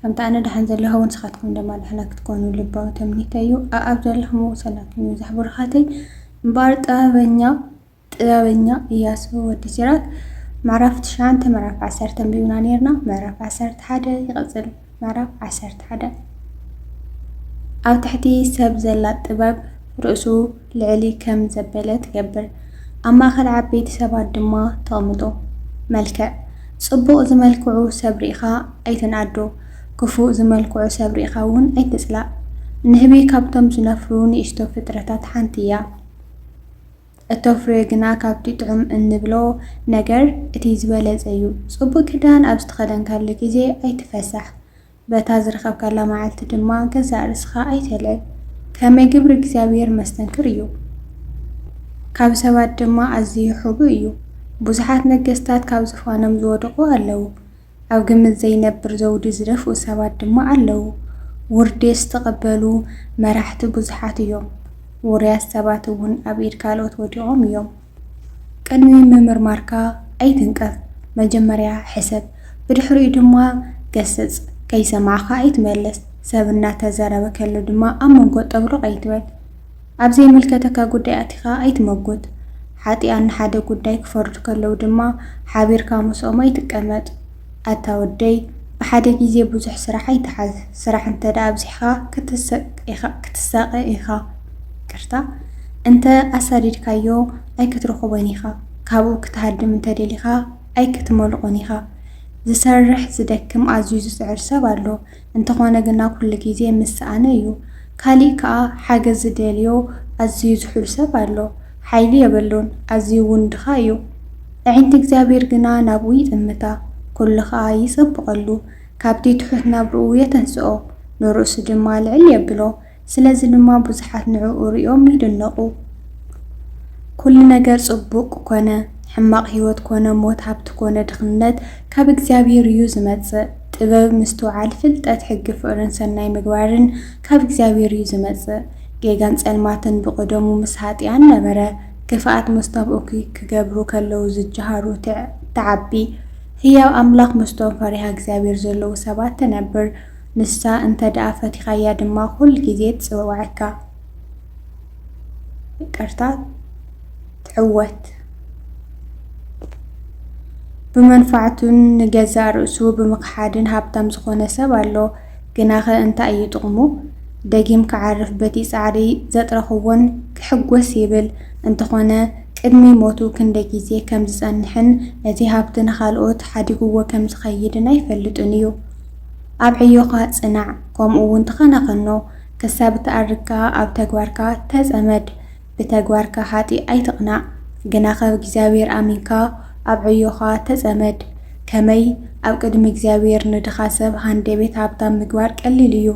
ከምቲ ኣነ ደሓን ዘለኹ እውን ንስኻትኩም ድማ ደሕና ክትኮኑ ልባዊ ተምኒተይ እዩ። ኣኣብ ዘለኹምዎ ሰላምኩም ይብዛሕ ብሩኻተይ። እምበኣር ጥበበኛ ጥበበኛ እያሱ ወዲ ሲራክ ምዕራፍ ትሽዓንተ ምዕራፍ ዓሰርተ ኣንቢብና ነይርና ምዕራፍ ዓሰርተ ሓደ ይቕጽል ምዕራፍ ዓሰርተ ሓደ ኣብ ትሕቲ ሰብ ዘላ ጥበብ ርእሱ ልዕሊ ከም ዘበለ ትገብር። ኣብ ማእከል ዓበይቲ ሰባት ድማ ተቕምጦ። መልክዕ። ጽቡቕ ዝመልክዑ ሰብ ርኢኻ ኣይትንኣዶ፣ ክፉእ ዝመልክዑ ሰብ ርኢኻ እውን ኣይትጽላእ። ንህቢ ካብቶም ዝነፍሩ ንእሽቶ ፍጥረታት ሓንቲ እያ። እተፍርዮ ግና ካብቲ ጥዑም እንብሎ ነገር እቲ ዝበለጸ እዩ። ጽቡቕ ክዳን ኣብ ዝተኸደንካሉ ግዜ ኣይትፈሳሕ። በታ ዝረኸብካላ መዓልቲ ድማ ገዛእ ርእስኻ ኣይተልዕል፣ ከመይ ግብሪ እግዚኣብሄር መስተንክር እዩ፣ ካብ ሰባት ድማ ኣዝዩ ሕቡእ እዩ። ብዙሓት ነገስታት ካብ ዝፋኖም ዝወደቑ ኣለዉ፣ ኣብ ግምት ዘይነብር ዘውዲ ዝደፍኡ ሰባት ድማ ኣለዉ። ውርዴት ዝተቐበሉ መራሕቲ ብዙሓት እዮም፣ ውሩያት ሰባት እውን ኣብ ኢድ ካልኦት ወዲቖም እዮም። ቅድሚ ምምርማርካ ኣይትንቀፍ፣ መጀመርያ ሕሰብ፣ ብድሕሪኡ ድማ ገስጽ። ከይሰማዕካ ኣይትመልስ፣ ሰብ እናተዘረበ ከሎ ድማ ኣብ መንጎ ጠብሩቕ ኣይትበል። ኣብ ዘይምልከተካ ጉዳይ ኣቲኻ ኣይትመጉት። ሓጢኣን ንሓደ ጉዳይ ክፈርዱ ከለዉ ድማ ሓቢርካ ምስኦም ኣይትቀመጥ። ኣታ ወደይ ብሓደ ግዜ ብዙሕ ስራሕ ኣይትሓዝ ስራሕ እንተ ኣብዚሕካ ክትሳቀ ኢካ ይቅርታ እንተ ኣሳዲድካዮ ኣይክትረክቦን ኢካ ካብኡ ክትሃድም እንተ ደሊካ ኣይክትመልቆን ኢካ ዝሰርሕ ዝደክም ኣዝዩ ዝጽዕር ሰብ ኣሎ እንተኾነ ግና ኩሉ ግዜ ምስ ሰኣነ እዩ። ካሊእ ከኣ ሓገዝ ዝደልዮ ኣዝዩ ዝሑል ሰብ ኣሎ። ሓይሊ የበሉን ኣዝዩ ውን ድኻ እዩ። ኣዒንቲ እግዚኣብሄር ግና ናብኡ ይጥምታ ኩሉ ከኣ ይጸብቐሉ ካብቲ ትሑት ናብርኡ የተንስኦ ንርእሱ ድማ ልዕል የብሎ። ስለዚ ድማ ብዙሓት ንዕኡ ርእዮም ይድነቑ። ኩሉ ነገር ጽቡቕ ኮነ ሕማቕ ህይወት ኮነ ሞት ሃብቲ ኮነ ድኽነት ካብ እግዚኣብሔር እዩ ዝመጽእ። ጥበብ ምስትውዓል ፍልጠት ሕጊ ፍቕርን ሰናይ ምግባርን ካብ እግዚኣብሔር እዩ ዝመጽእ። ጌጋን ጸልማትን ብቕደሙ ምስ ኃጥኣን ነበረ። ክፍኣት ምስቶም እኩይ ክገብሩ ከለዉ ዝጀሃሩ ትዓቢ። ህያው ኣምላኽ ምስቶም ፈሪሃ እግዚኣብሔር ዘለዉ ሰባት ትነብር። ንሳ እንተ ደኣ ፈቲኻያ ድማ ኩሉ ግዜ ትጽውዓካ። ይቅርታ ትዕወት። ብመንፋዕቱን ንገዛእ ርእሱ ብምኽሓድን ሃብታም ዝኾነ ሰብ ኣሎ። ግናኸ እንታይ እዩ ጥቕሙ? ደጊም ክዓርፍ በቲ ጻዕሪ ዘጥረኽዎን ክሕጎስ ይብል። እንተኾነ ቅድሚ ሞቱ ክንደይ ግዜ ከም ዝጸንሕን ነቲ ሃብቲ ንኻልኦት ሓዲግዎ ከም ዝኸይድን ኣይፈልጥን እዩ። ኣብ ዕዮኻ ጽናዕ፣ ከምኡ'ውን ተኸናኸኖ፣ ክሳብ እትኣርግ ከኣ ኣብ ተግባርካ ተጸመድ፣ ብተግባርካ ሃጢ ኣይትቕናእ፣ ግናኸ እግዚኣብሄር ኣሚንካ ኣብ ዕዮኻ ተጸመድ። ከመይ ኣብ ቅድሚ እግዚኣብሄር ንድኻ ሰብ ሃንደቤት ሃብታም ምግባር ቀሊል እዩ።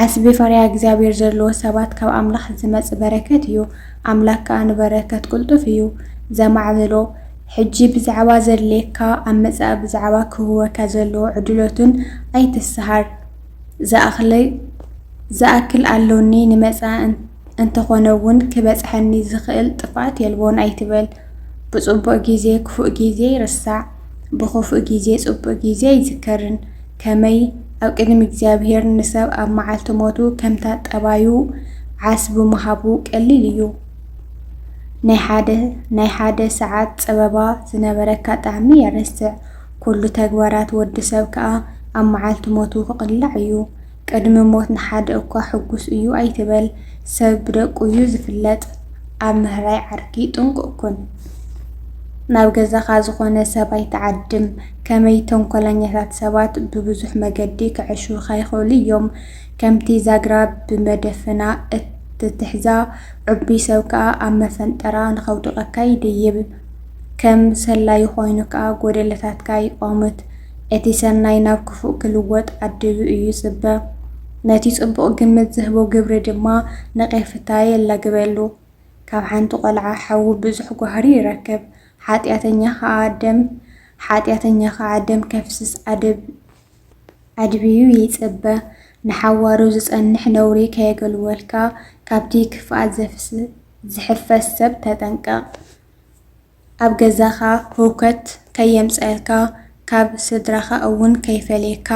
ዓስቢ ፈሪሃ እግዚኣብሄር ዘለዎ ሰባት ካብ ኣምላኽ ዝመጽእ በረከት እዩ፣ ኣምላኽ ከኣ ንበረከት ቅልጡፍ እዩ ዘማዕብሎ። ሕጂ ብዛዕባ ዘድልየካ ኣብ መጻኢ ብዛዕባ ክህወካ ዘለዎ ዕድሎትን ኣይትሰሃር ዝኣክለይ ዝኣክል ኣሎኒ ንመጻኢ እንተኮነ ውን ክበጽሐኒ ዝክእል ጥፍኣት የልቦን ኣይትበል ብጽቡቅ ግዜ ክፉእ ግዜ ይርሳዕ ብክፉእ ግዜ ጽቡቅ ግዜ ኣይዝከርን ከመይ ኣብ ቅድሚ እግዚኣብሄር ንሰብ ኣብ መዓልቲ ሞቱ ከምታ ጠባዩ ዓስቢ ምሃቡ ቀሊል እዩ ናይ ሓደ ናይ ሓደ ሰዓት ጸበባ ዝነበረካ ጣዕሚ የረስዕ። ኩሉ ተግባራት ወዲ ሰብ ከኣ ኣብ መዓልቲ ሞቱ ክቕላዕ እዩ። ቅድሚ ሞት ንሓደ እኳ ሕጉስ እዩ ኣይትበል። ሰብ ብደቁ እዩ ዝፍለጥ። ኣብ ምህራይ ዓርኪ ጥንቁቕ ኩን። ናብ ገዛኻ ዝኾነ ሰብ ኣይትዓድም። ከመይ ተንኮለኛታት ሰባት ብብዙሕ መገዲ ከዐሽዉኻ ይኽእሉ እዮም። ከምቲ ዛግራ ብመደፈና እትትሕዛ፣ ዕቡይ ሰብ ከኣ ኣብ መፈንጠራ ንኸውድቐካ ይድይብ። ከም ሰላዪ ኮይኑ ከኣ ጎደለታትካ ይቋምት። እቲ ሰናይ ናብ ክፉእ ክልወጥ ዓዲቡ እዩ ዝጽበ። ነቲ ጽቡቕ ግምት ዝህቦ ግብሪ ድማ ነቄፍታ የላግበሉ። ካብ ሓንቲ ቆልዓ ሓዊ ብዙሕ ጓህሪ ይረክብ። ሓጢኣተኛ ከኣ ደም ሓጢኣተኛ ከኣ ደም ከፍስስ ዓደብ። ኣድብዩ ይጽበ። ንሓዋሩ ዝጸንሕ ነውሪ ከየገልወልካ፣ ካብቲ ክፍኣት ዘፍስ ዝሕፈስ ሰብ ተጠንቀቕ። ኣብ ገዛኻ ህውከት ከየምጸኣልካ፣ ካብ ስድራኻ እውን ከይፈለየካ፣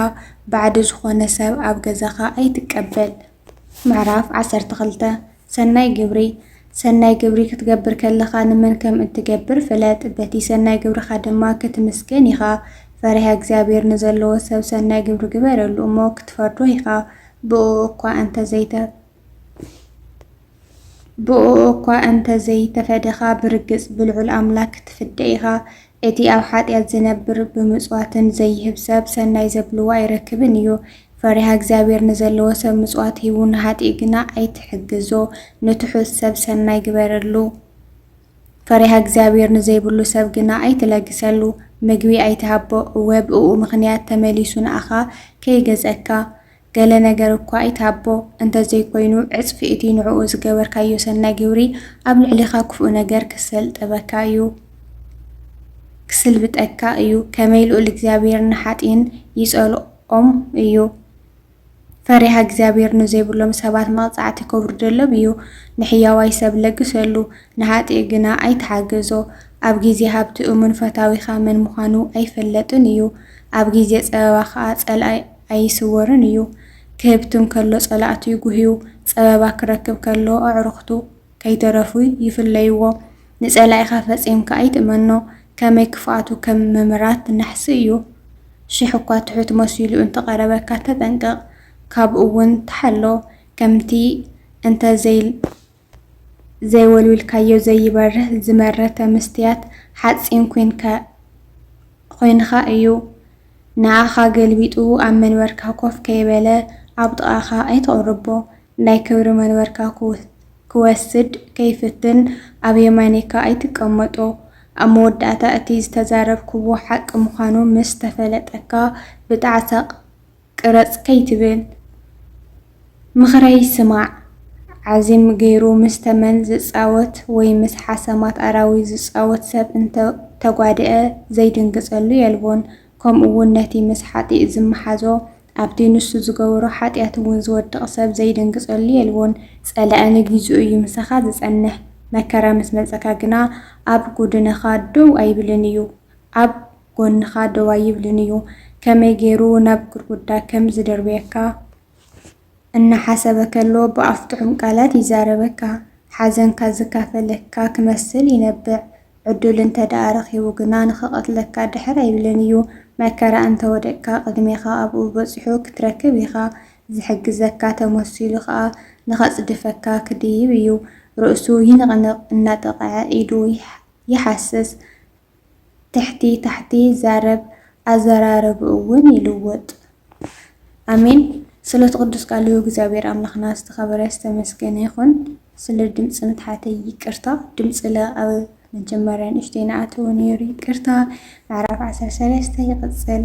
ባዕዲ ዝኾነ ሰብ ኣብ ገዛኻ ኣይትቀበል። ምዕራፍ ዓሰርተ ክልተ ሰናይ ግብሪ ሰናይ ግብሪ ክትገብር ከለኻ ንመን ከም እትገብር ፍለጥ፣ በቲ ሰናይ ግብርኻ ድማ ክትምስገን ኢኻ። ፈሪሃ እግዚኣብሔር ንዘለዎ ሰብ ሰናይ ግብሪ ግበረሉ እሞ ክትፈርዶ ኢኻ፣ ብእኡ እኳ እንተ ዘይተ። ብእኡ እኳ እንተ ዘይተፈደኻ፣ ብርግጽ ብልዑል ኣምላኽ ክትፍደ ኢኻ። እቲ ኣብ ሓጢኣት ዚነብር፣ ብምጽዋትን ዘይህብ ሰብ፣ ሰናይ ዘብልዎ ኣይረክብን እዩ። ፈሪሃ እግዚኣብሔር ንዘለዎ ሰብ ምጽዋት ሂቡ፣ ንኃጥእ ግና ኣይትሕግዞ። ንትሑት ሰብ ሰናይ ግበረሉ፣ ፈሪሃ እግዚኣብሔር ንዘይብሉ ሰብ ግና ኣይትለግሰሉ። ምግቢ ኣይትሃቦ፣ እወ፣ ብእኡ ምኽንያት ተመሊሱ ንኣኻ ከይገዘካ። ገለ ነገር እኳ ኣይትሃቦ፣ እንተ ዘይኮይኑ ዕጽፊ እቲ ንዕኡ ዝገበርካዮ ሰናይ ግብሪ ኣብ ልዕሌኻ ክፉእ ነገር ክሰልጠበካ እዩ፣ ክስልብጠካ እዩ፣ ከመይ ልኡል እግዚኣብሄር ንሓጥይን ይጸልኦም እዩ። ፈሪሃ እግዚኣብሄር ንዘይብሎም ሰባት መቕጻዕቲ ከውርደሎም እዩ፣ ንሕያዋይ ሰብ ለግሰሉ፣ ንሓጥእ ግና ኣይትሓገዞ። ኣብ ግዜ ሃብቲ እሙን ፈታዊኻ መን ምዃኑ ኣይፈለጥን እዩ፣ ኣብ ግዜ ጸበባ ኸኣ ጸላኢ። ኣይስወርን እዩ። ክህብትም ከሎ ጸላእቱ ይጉህዩ፣ ጸበባ ክረክብ ከሎ ኣዕሩኽቱ ከይተረፉ ይፍለይዎ። ንጸላኢኻ ፈጺምካ ኣይትእመኖ፣ ከመይ ክፍኣቱ ከም ምምራት ናሕሲ እዩ። ሽሕ እኳ ትሑት መሲሉ እንተ ቐረበካ ተጠንቀቕ፣ ካብኡውን ተሓሎ፣ ከምቲ እንተ ዘይ። ዘይወልዊልካዮ ዘይበርህ ዝመረተ መስትያት ሓጺን ኮይንካ እዩ ንኣኻ ገልቢጡ ኣብ መንበርካ ኮፍ ከይበለ ኣብ ጥቓኻ ኣይተቕርቦ ናይ ክብሪ መንበርካ ክወስድ ከይፍትን ኣብ የማነይካ ኣይትቀመጦ ኣብ መወዳእታ እቲ ዝተዛረብክዎ ሓቂ ምዃኑ ምስ ተፈለጠካ ብጣዕሳ ቅረጽ ከይትብል ምኽረይ ስማዕ። ዓዚም ገይሩ ምስ ተመን ዝጻወት ወይ ምስ ሓሰማት ኣራዊት ዝጻወት ሰብ እንተ ተጓድኤ ዘይድንግጸሉ የልቦን። ከምኡ'ውን ነቲ ምስ ሓጥእ ዝመሓዞ ኣብቲ ንሱ ዝገበሮ ሓጥያት'ውን ዝወድቕ ሰብ ዘይድንግጸሉ የልቦን። ጸላኢ ንጊዚኡ እዩ ምሳኻ ዝጸንሕ፣ መከራ ምስ መጸካ ግና ኣብ ጎድንኻ ደው ኣይብልን እዩ። ኣብ። ጎንኻ ደው ኣይብልን እዩ። ከመይ ገይሩ ናብ ግርጉዳ ከም ዝድርብየካ እናሓሰበ ከሎ ብኣፍ ጥዑም ቃላት ይዛረበካ። ሓዘንካ ዝካፈለካ ክመስል ይነብዕ። ዕዱል እንተ ደኣ ረኺቡ ግና ንኽቐትለካ ድሕር ኣይብልን እዩ። መከራ እንተ ወደቅካ ቅድሜኻ ኣብኡ በጺሑ ክትረክብ ኢኻ። ዝሕግዘካ ተመሲሉ ከኣ ንኸጽድፈካ ክድይብ እዩ። ርእሱ ይንቕንቕ፣ እናጠቕዐ ኢዱ ይሓስስ። ትሕቲ ታሕቲ ይዛረብ ኣዘራርብኡ ውን ይልውጥ። ኣሜን ስለቲ ቅዱስ ቃሉ እግዚኣብሔር ኣምላክና ዝተከበረ ዝተመስገነ ይኩን ስለ ድምፂ ምትሓተይ ይቅርታ ድምፂ ለኣብ መጀመርያ ንእሽተይ ንኣተዎ ነይሩ ይቅርታ ምዕራፍ ዓሰርተ ሰለስተ ይቅፅል።